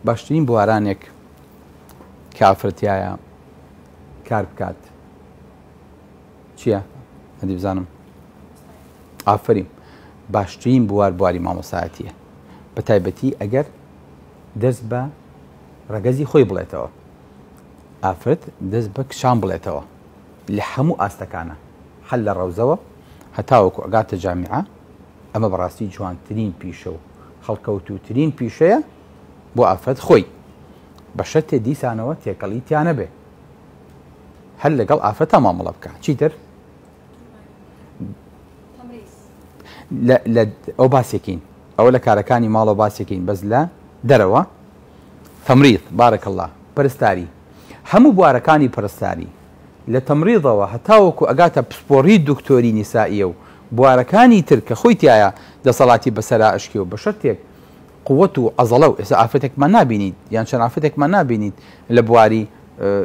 باشترین بوارانێک کە ئافرەت تیایە کار بکات چییە؟ هەندی بزانم ئافرین باشترین بوار بواری مامۆسایەتیە بە تایبەتی ئەگەر دەست بە ڕەگەزی خۆی بڵێتەوە ئافرەت دەست بە کچان بڵێتەوە لە هەموو ئاستەکانە هەل لە ڕەوزەوە هەتاوەکو ئەگاتە جامیعە ئەمە بەڕاستی جوانترین پیشە و هەڵکەوتووترین پیشەیە بۆ ئافرەت خۆی بە شەرتێ دیسانەوە تێکەڵی تیانەبێ هەر لەگەڵ ئافرەتا مامەڵە بکە چیتر ئەو باسێکین ئەوە لە کارەکانی ماڵەوە باسێکین بەس لە دەرەوە تەمریت بارەکە الله پرستاری هەموو بوارەکانی پرستاری لە تەمڕیضەوە هەتاوەکو ئەگاتە پسپۆڕی دکتۆری نیسائیە و بوارەکانی تر کە خۆی تیایا دەسەڵاتی بەسەرا ئەشکێ و بەشەرتێک قوت و عەزەڵە و ئێستا ئافرەتێکمان نابینیت یان چەند ئافرەتێکمان نابینیت لە بواری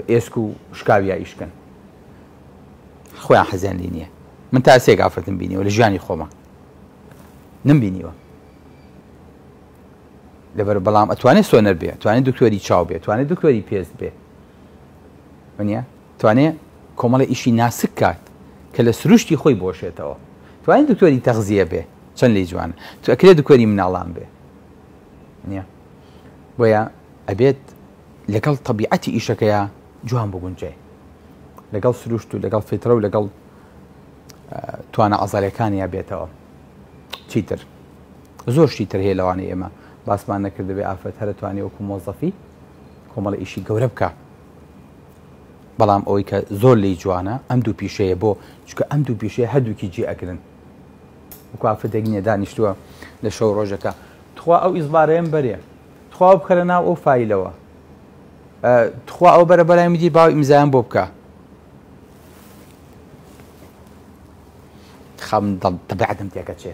ئێسک و شکاویا ئیشکەن خۆیان حەزیان لی نیە من تا سێک ئافرەتم بینیەوە لە ژیانی خۆمە نم بینیوە لەبەر بەڵام ئەتوانێت سۆنەر بێ توانێت دکتۆری چاو بێت توانێت دکتۆری پێست بێ وەنیە توانێ کۆمەڵی ئیشی ناسک کات کە لە سروشتی خۆی بۆشێتەوە توانین دکتۆری تەغزیە بێ چەند لی جوان تو ئەکرێ دکۆری مناڵان بێ نیە بۆیە ئەبێت لەگەڵ طبیعەتی ئیشەکەیە جوان بگونجێ لەگەڵ سروشت و لەگەڵ فیترە و لەگەڵ توانە ئازارەکانیا بێتەوە چیتر زۆر شیتر هەیە لەوانی ئێمە باسمان نەکردبێ ئافرەت هەرە توانانی وەکو مۆزەفی کۆمەڵە ئیشی گەورە بکە بەڵام ئەوەی کە زۆر لی جوانە ئەم دوو پیشەیە بۆ چکە ئەم دوو پیشەیە هەردووکی جێ ئەگرن وکافدێک نیە دانیشتووە لە شەو ڕۆژەکە تخوا ئەو ئیزبارەیەم بەرێ تخوا بکەرە ناو ئەو فیلەوە تخوا ئەو بەرە بەلای میدی باوی ئیمزایان بۆ بکە خەم دڵ تەبعەتم تێکەچێ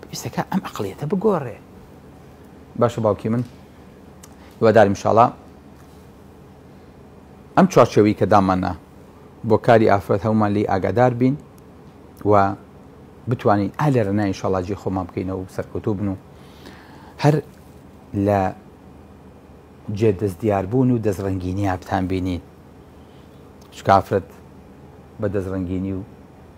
پێویستەکا ئەم ئەقڵیەتە بگۆڕێ. باشە باوکی من هیوادارم انشاءاللە ئەم چوارچێوەی کە داماننا بۆ کاری ئافرەت هەموومان لێی ئاگادار بین و بتوانین ئا لە رێنای انشاءاللە جێ خۆمان بکەینەوە و سەرکەوتوو بن و هەر لە جێ دەست دیاربوون و دەستڕەنگینی یابتان بینین چکە ئافرەت بە دەستڕەنگینی و